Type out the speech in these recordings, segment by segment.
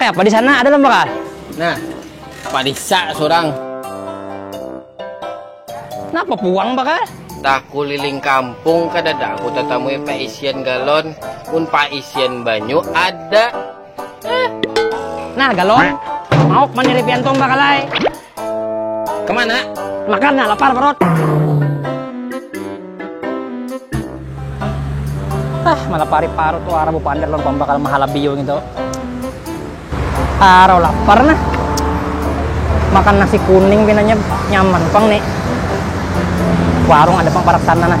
Kayak apa di sana? Ada lembah kah? Nah, padisa seorang. Kenapa puang bakal? Tak kuliling kampung kada ada aku tetamu isian galon, pun pak isian banyu ada. nah galon mau kemana ripian tomba kalai kemana makan lapar perut ah malah pari parut tuh arah bupa ander lompong bakal mahala biu gitu arah lapar nah makan nasi kuning pinanya nyaman pang nih warung ada pang parak sana nah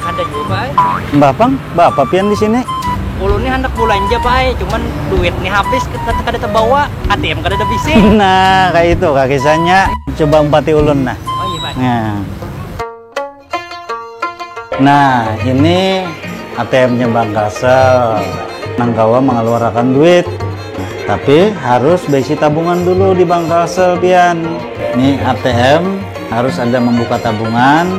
ada jua pak eh. mbah pang bapak pian di sini ulun nih hendak belanja pak eh. cuman duit nih habis kada terbawa ATM kada ada bisi nah kayak itu kak kisahnya coba empati ulun nah oh iya pak nah. nah ini ATM-nya Bang Kasel nang kawa mengeluarkan duit tapi harus besi tabungan dulu di Bang Kasel pian ini ATM harus ada membuka tabungan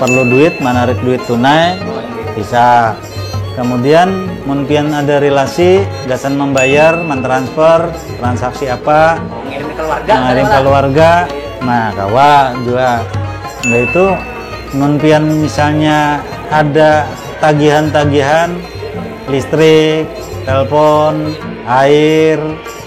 Perlu duit manarik duit tunai bisa. Kemudian mun pian ada relasi gasan membayar, mentransfer, transaksi apa, mengirim keluarga, mengirim keluarga, nah kawa juga. Nah itu mun pian misalnya ada tagihan-tagihan listrik, telepon, air,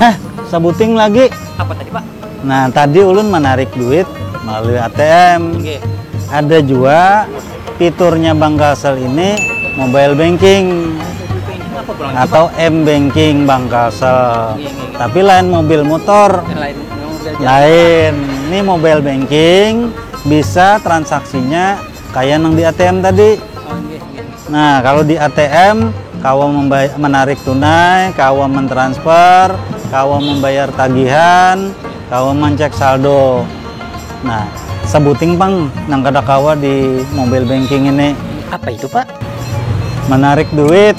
eh sabuting lagi apa tadi pak nah tadi ulun menarik duit melalui atm ada jua fiturnya bank kalsel ini mobile banking atau m banking bank kalsel tapi lain mobil motor lain ini mobile banking bisa transaksinya kaya nang di atm tadi nah kalo di atm kawa menarik tunai kawa mentransfer kawa membayar tagihan kawa mencek saldo nah sebuting pang nang kada kawa di mobile banking ini apa itu pak menarik duit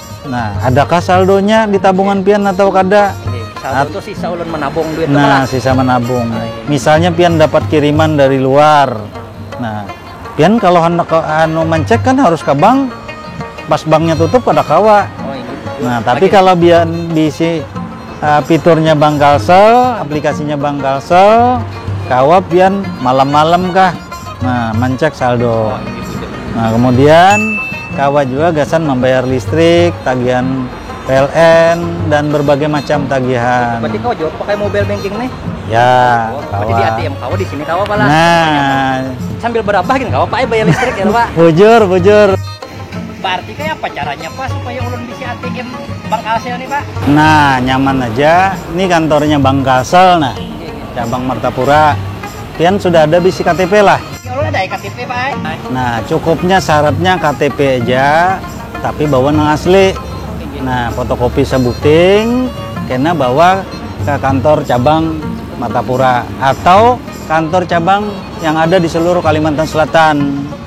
Nah, adakah saldonya di tabungan pian atau kada? Saldo itu sisa ulun menabung duit Nah, sisa menabung. Ah, iya. Misalnya pian dapat kiriman dari luar. Nah, pian kalau hendak anu mencek kan harus ke bank. Pas banknya tutup kada kawa. Oh, iya. Nah, tapi kalau pian diisi Fiturnya Bang Kalsel, aplikasinya Bang Kalsel, kawa pian malam-malam kah, nah mencek saldo. Nah kemudian kawa juga gasan membayar listrik, tagihan PLN dan berbagai macam tagihan. Berarti kawa juga pakai mobile banking nih? Ya, oh, kawa. Berarti di ATM kawa di sini kawa pala. Nah, sambil berabah gini kawa pakai bayar listrik ya Pak. Bujur, bujur. Berarti kaya apa caranya pak supaya ulun bisi ATM Bank Kalsel nih pak? Nah nyaman aja, nih kantornya Bank Kalsel nah, cabang Martapura. Pian sudah ada bisi KTP lah? Ya ulun ada ai KTP pak ai. Nah cukupnya syaratnya KTP aja, tapi bawa nang asli. Nah fotokopi sabuting, kena bawa ke kantor cabang Martapura atau kantor cabang yang ada di seluruh Kalimantan Selatan.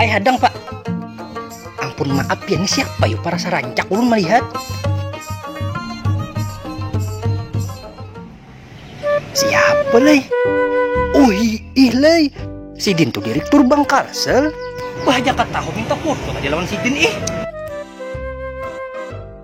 Ay hadang pak. Ampun maaf ya ini siapa yuk para sarancak ulun melihat. Siapa lay? Oh ih lay. Sidin tuh direktur Bank Kalsel. Wah jakat tahu minta foto aja lawan Sidin ih.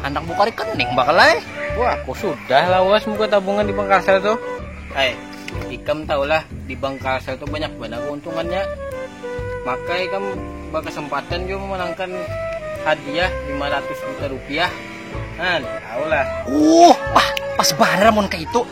Handak buka rekening bakal ai. Wah, ku sudah lawas buka tabungan di bank Kalsel tuh. Hai, ikam tahu lah di bank Kalsel tuh banyak banar keuntungannya. Maka ikam berkesempatan juga memenangkan hadiah 500 juta rupiah. Nah, tahu lah. Uh, wah, pas banar mun kayak itu.